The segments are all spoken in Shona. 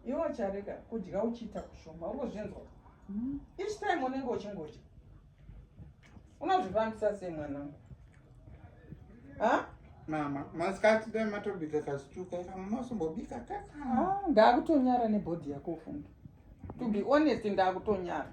iwe ucharega kudya uchiita kushoma ungozvinzwa mm. each time unenge uchingodya unozvifambisa sei mwanangu mama masikati dai matobika kazituka ika mamasombobika kaka ndakutonyara nebhodhi yako ufunge to be honest ndakutonyara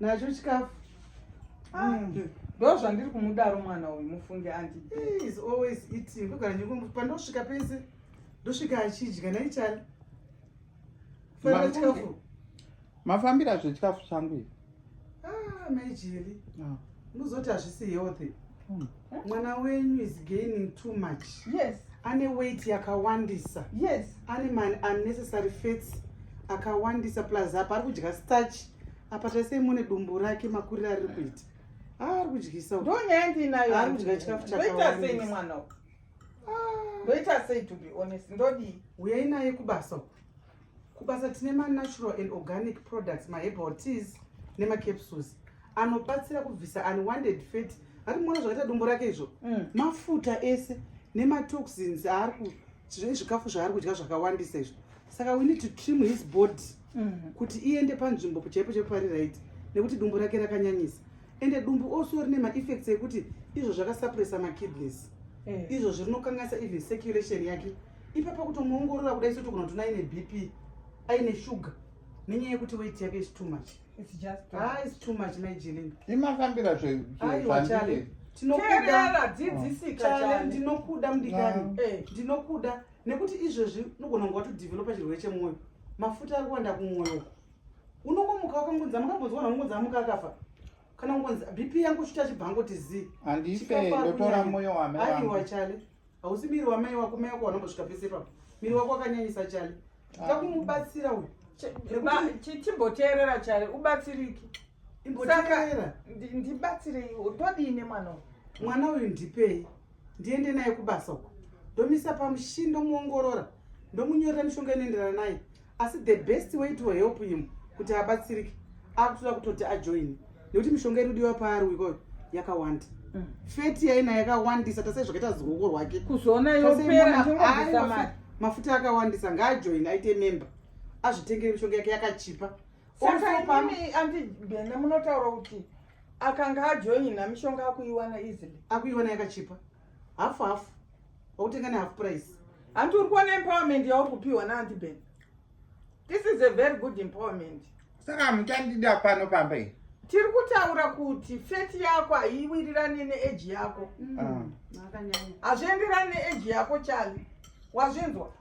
nacho chikafu ah, mm. ndo zvandiri kumudaro mwana uyu mufunge andi is always eating ndogara ndingo pandosvika pese ndosvika achidya naichani fanira chikafu mafambira zvechikafu changu ivi ah, maijili ah. unozoti hazvisi healthy hmm. mwana wenyu is gaining too much yes ane weight yakawandisa yes ane man unnecessary fats akawandisa plus apa ari kudya starch apa taisei mune dumbu rake makuriro ariri kuita ah, ari kudyisa ndo nyaya ndiinayo ari kudya chikafu chakaita sei nemwana uku ah. ndoita sei to be honest ndodii uyai naye kubasa uku Kubasa tine manatural and organic products, maherbal teas nemacapsules anobatsira kubvisa unwanted fat. Ari muona zvakaita dumbu rake izvo? Mm. Mafuta ese nematoxins aari ku zvikafu zvaari kudya zvakawandisa izvo. Saka we need to trim his body mm. kuti iende panzvimbo chaipo chaipo pari right nekuti dumbu rake rakanyanyisa. Ende dumbu also rine maeffects ekuti izvo zvakasuppressa makidneys. Eh. Izvo zvinokanganisa even circulation yake. ipapa kutomuongorora kuda isu togona kutona aine bp aine shuga nenyaya yekuti weti yake is too much ah, is too much maijelenga imafambira zvandiri ndinokuda mudikani ah. eh, ndinokuda nekuti izvezvi unogona kunge watodevelopa chirwere chemwoyo mafuta ari kuwanda kumwoyo uku unongomuka wakangonzi amukambonzwa na ungonzi amuka akafa kana ungonzi bp yangu shuta chibhango tizi andife ndotora mwoyo wame aiwa chale hausi miri wamai wako mai wako wanambosvika pese ipapo miri wako wakanyanyisa chale takumubatsira uyu chimboteerera chale ubatsiriki imboteerera ndibatsirei todii nemwana uyu mwana uyu ndipei ndiende naye kubasa uko ndomisa pamushini ndomuongorora ndomunyorera mishonga inoenderana naye asi the best way to help him kuti abatsirike akutoda kutoti ajoine nekuti mishonga irudiwa paari wikoyo yakawanda mm. feti yaina yakawandisa tase zvakaita zioko rwake kuzoona yopera mafuta akawandisa ngaajoine aite memba azvitengere mishonga yake yakachipa sakaimi andi bene munotaura kuti akanga ajoina mishonga akuiwana easily akuiwana yakachipa half half wakutenga ne half price hanti uri kuona empowerment yauri kupiwa naanti ben this is a very good empowerment saka hamuchandida pano pamba iyi tiri kutaura kuti feti yako haiwirirane neeji yako mm. ah. hazvienderani neeji yako chali wazvinzwa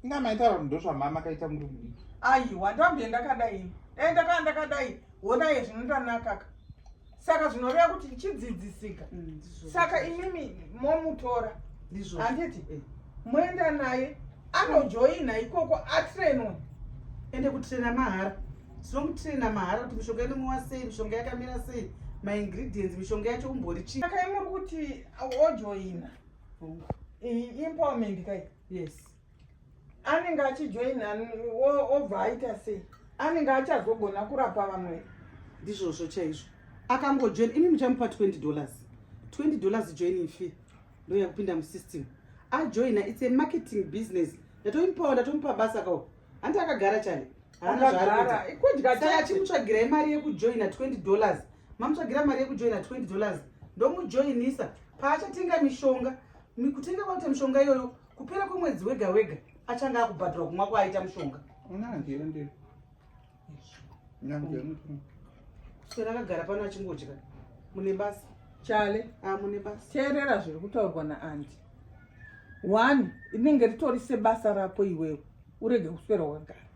inga maitaura kuti ndozvamama kaita muri mudiki aiwa ndambie ndakadai e eh, ndakaa ndakadai honai zvinotanakaka saka zvinoreva kuti chidzidzisika mm, saka imimi momutora handiti eh. moenda naye anojoina ikoko atrenwe ende kutrena mahara tinomutrena mahara kuti mishonga inomwiwa sei mishonga yakamira sei maingredients mishonga yacho umbori chii akaimuri kuti ojoina empowerment kai yes anenge achijoina obva aita sei anenge achazogona kurapa vamwe ndizvozvo chaizvo akangojoina imi muchamupa 20 dollars 20 dollars joining fee ndoya kupinda musystem ajoina its a marketing business ndatomupawo ndatomupa basa kao hanti akagara chale achimutsvagira imari yekujoina 20 dollars mamutsvagira mari yekujoina 20 dollars ndomujoinisa paachatenga mishonga kutenga kwakuita mishonga iyoyo kupera kwemwedzi wega wega achange akubhadhura kumwa kwaaita mushonga kuswera akagara pano achingodya mune basa chale ah, mune basa teerera zviri kutaurwa naandi one rinenge ritori sebasa rako iwewe urege kuswera wakagara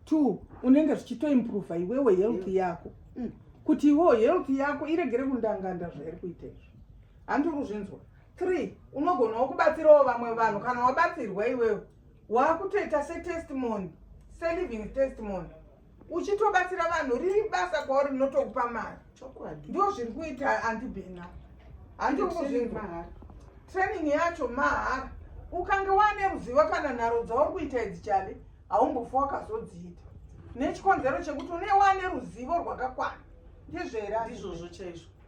two unenge zvichitoimprova iwewe health yako mm. kuti iwewo health yako iregere kundanganda zvairi kuita izvi handiri kuzvinzwa 3 unogonawo kubatsirawo vamwe vanhu kana wabatsirwa iwewo waakutoita setestimony seliving testimony uchitobatsira vanhu riri basa kwauri rinotokupa mari ndo zviri kuita andibhena handikuzvinzwa training yacho mahara ukange wane ruzivo kana nharo dzauri kuita idzi chale haumbofa wakazodziita nechikonzero chekuti une wane ruzivo rwakakwana ndizvera ndizvozvo chaizvo